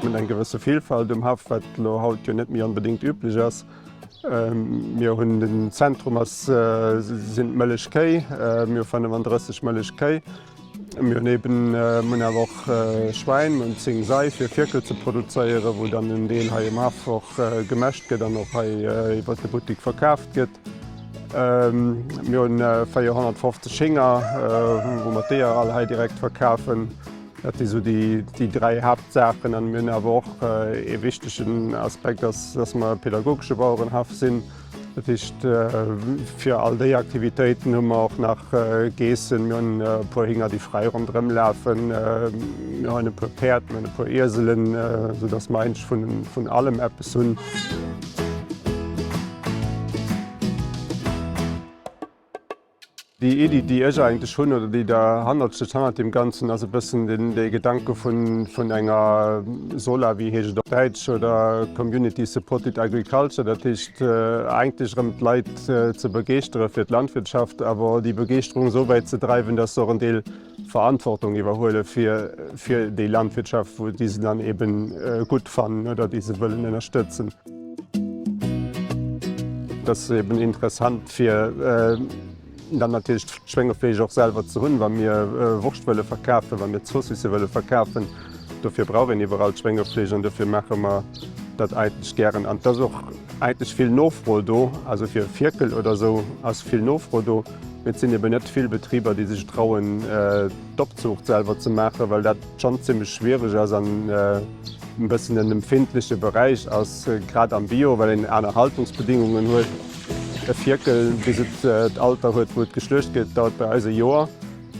Mir hunn eng gewësse Villfalt um Haff, wat elo haut jo net méi onbedéngt üblech ass. Mir hunn den Zentrum ass sinn d'Mëllechkéi, mir hu 35 Mëllechkéi. Mir hunn eben, mir hunn awer och Schwäin, mir hunn zéng Sei fir Fierkel ze produzéieren, wou dann en Deel hei um Haff och gemäscht gëtt an och hei iwwert de Buttik verkaaft gëtt. Mir hu 450 Hénger, wou mer d'Eeër all hei direkt verkafen. Dat si sou déi dräi Haaptsaachen. A mir hunn awer och ee wichtegen Aspekt ass, datt mer e pädagogesche Bauerenhaff sinn. Dat heescht fir all déi Aktivitéiten hu mer och nach Geessen, mir hunn e puer Hinger, déi fräi ronderëm lafen, mir hunn e puer Päerd, mir hunn e puer Ieselen, sou datt mer eigentlech vun allem eppes hunn. Déi Iddi, déi ech eigentlech hunn oder déi der hannert steet, hannert deem Ganzen, ass e bëssen dee Gedanke vun enger SOLA, wéi heescht et op Däitsch, oder Community Supported Agriculture, dat heescht eigentlech erëm d'Leit ze begeeschtere fir d'Landwirtschaft, awer déi Begeeschterung esou wäit ze dreiwen, datt se och en Deel Verantwortung iwwerhuele fir déi Landwirtschaft, wou déi se dann eebe gutt fannen oder déi se wëllen ënnerstëtzen. Et ass eeben interessant fir dann natierlech d'Schwéngefleesch och selwer ze hunn, wa mir Wurscht wëlle verkafen, wa mir d'Zoossisse wëlle verkafen. Dofir brauch een iwwerall d'Schwéngefleesch an dofir maache mer dat eigentlech gären. An et ass och eigentlech vill Nofro do, also fir e Fierkel oder esou ass vill Nofro do. Et sinn eben net vill Betriber, déi sech trauen, d'Opzuucht selwer ze maachen, well dat schonn zimmlech schwiereg ass an e bëssen en empfindleche Beräich ass, grad am Bio, well een aner Haltungsbedingungen huet. E Fierkel, bis et d'Alter huet, wou et geschluecht gëtt, dauert bei eis e Joer.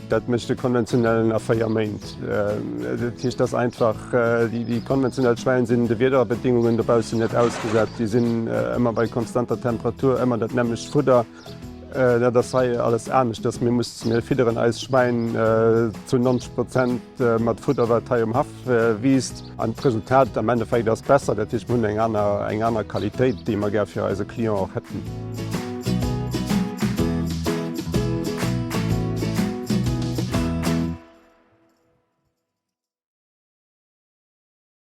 Dat mécht de konventionellen a véier Méint. Dat heescht, dass einfach déi konventionell Schwäin sinn de Wiederbedingungen dobaussen net ausgesat. Déi sinn ëmmer bei konstanter Temperatur, ëmmer dat nämmlecht Fudder. Dat ass hei alles aneschters. Mir mussen hei fidderen, eis Schwäin zu 90 Prozent mat Fudder, wat hei um Haff wiisst. An d'Resultat am Endeffekt ass besser. Dat heescht, mir hunn eng aner, eng aner Qualitéit, déi mer gär fir eise Client och hätten.